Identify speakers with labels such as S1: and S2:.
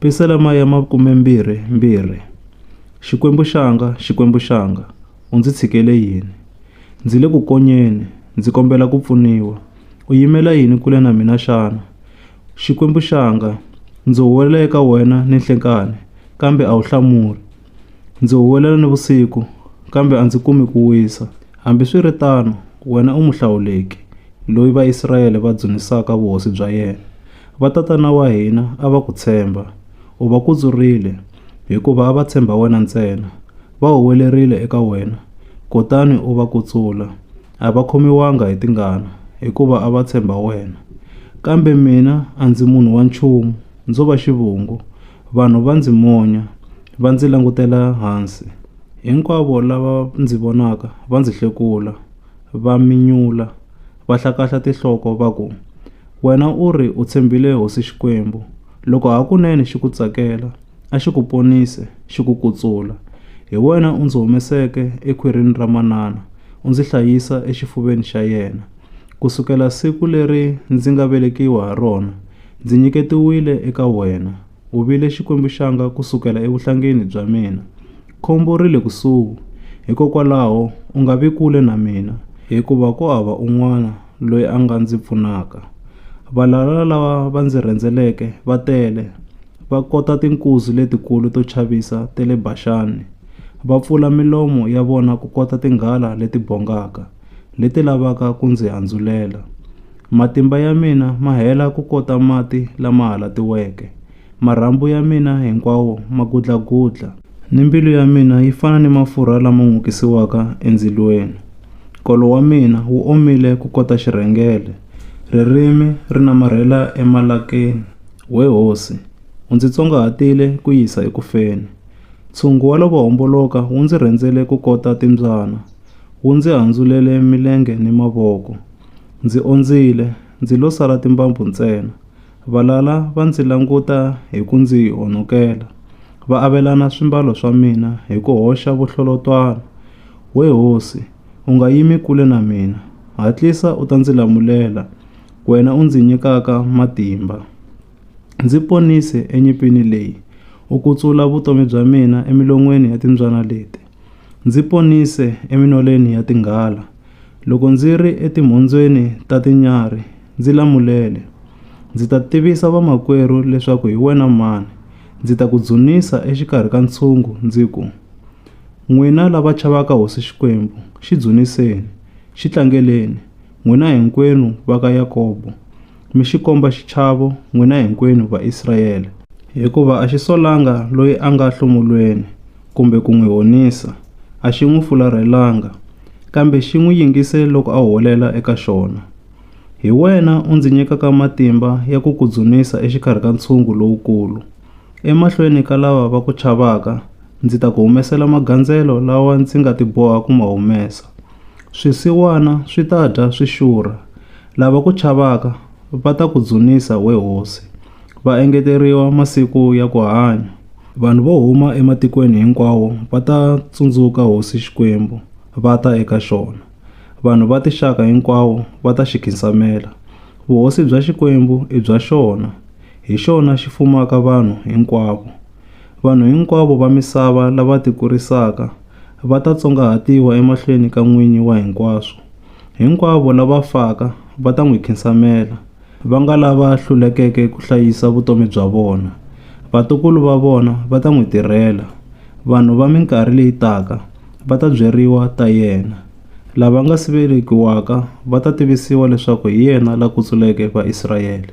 S1: Pisalema ya makumembirhi mbirhi, Xikwembu xanga, Xikwembu xanga, u ndzi tshikele yini? Ndzi le ku konyeni, ndzi kombela ku pfuniwa. U yimela yini kule na mina xana? Xikwembu xanga, ndzi huwelela eka wena ninhlenkani, kambe a wu hlamuli. Ndzi huwelela nivusiku, kambe a ndzi kumi ku wisa. Hambiswiritano, wena u muhlawuleki, loyi Vaisrayele va dzunisaka vuhosi bya yena. Vatatana wa hina a va ku tshemba, u va kutsurile, hikuva a va tshemba wena ntsena. Va huwelerile eka wena, kutani u va kutsula. A va khomiwanga hi tingana, hikuva a va tshemba wena. Kambe mina a ndzi munhu wa nchumu, ndzo va xivungu. Vanhu va ndzi monya, va ndzi langutela hansi. Hinkwavo lava ndzi vonaka va ndzi hlekula, va minyula, va hlakahla tinhloko va ku, Wena u ri u tshembile hosi Xikwembu, loko hakunene xi ku tsakela, a xi ku ponise, xi ku kutsula. Hi wena u ndzi humeseke ekhwirini ra manana, u ndzi hlayisa exifuveni xa yena, ku sukela siku leri ndzi nga velekiwa ha rona, Ndzi nyiketiwile eka wena, u vile xikwembu-xanga ku sukela evuhlangeni bya mina. Khombo ri le kusuhi, hikokwalaho u nga vi kule na mina, hikuva ku hava un'wana loyi a nga ndzi pfunaka. Valala lava va ndzi rhendzeleke va tele, va kota tinkuzi letikulu to chavisa ta le Baxani, va pfula milomo ya vona ku kota tinghala leti bongaka. leti lavaka ku ndzi andzulela. Matimba ya mina ma hela ku kota mati lama halatiweke, marhambu ya mina hinkwawo ma gudlagudla. Ni mbilu ya mina yi fana ni mafurha lama n'okisiwaka endzilweni. Nkolo wa mina wu omile ku kota xirhengele, ririmi ri namarhela emalakeni. We hosi, u ndzi tsongahatile ku yisa eku feni. Ntshungu wa lavo homboloka wu ndzi rhendzele ku kota timbyana, Wu ndzi handzulele milenge ni mavoko. Ndzi ondzile, ndzi lo sala timbambu ntsena. Valala va ndzi languta hi ku ndzi honokela, va avelana swimbalo swa mina hi ku hoxa vuhlolotwana. We hosi, u nga yimi kule na mina, hatlisa u ta ndzi lamulela, wena u ndzi nyikaka matimba. Ndzi ponise enyimpini leyi, u kutsula vutomi bya mina emilon'weni ya timbyana leti. Ndzi ponise eminoleni ya tinghala loko ndzi ri etimhondzweni ta tinyarhi ndzi lamulele, ndzi ta tivisa vamakwerhu leswaku hi wena mhani ndzi ta ku dzunisa exikarhi ka ntshungu ndzi ku, N'wina lava chavaka hosi Xikwembu xi dzuniseni, xi tlangeleni, n'wina hinkwenu va ka Yakobo. mi xi komba xichavo, n'wina hinkwenu Vaisrayele. Hikuva a xi solanga loyi a nga hlomulweni kumbe ku n'wi honisa, a xi n'wi fularhelanga, kambe xi n'wi yingise loko a huwelela eka xona. Hi wena u ndzi nyikaka matimba ya ku ku dzunisa exikarhi ka ntshungu lowukulu. Emahlweni ka lava va ku chavaka ndzi ta ku humesela magandzelo lawa ndzi nga tiboha ku ma humesa. Swisiwana swi ta dya swi xurha, lava ku chavaka va ta ku dzunisa, we hosi, va engeteriwa masiku ya ku hanya. Vanhu vo huma ematikweni hinkwawo va ta tsundzuka hosi Xikwembu, va ta eka xona. Vanhu va tixaka hinkwawo va ta xi khinsamela. Vuhosi bya Xikwembu i bya xona, hi xona xi fumaka vanhu hinkwavo. Vanhu hinkwavo va misava lava tikurisaka va ta tsongahatiwa emahlweni ka N'winyi wa hinkwaswo. Hinkwavo lava faka va ta n'wi khinsamela, va nga lava hlulekeke ku hlayisa vutomi bya vona. Vatukulu va vona va ta n'wi tirhela, vanhu va minkarhi leyi taka va ta byeriwa ta yena. Lava nga si velekiwaka va ta tivisiwa leswaku hi yena la kutsuleke Vaisrayele.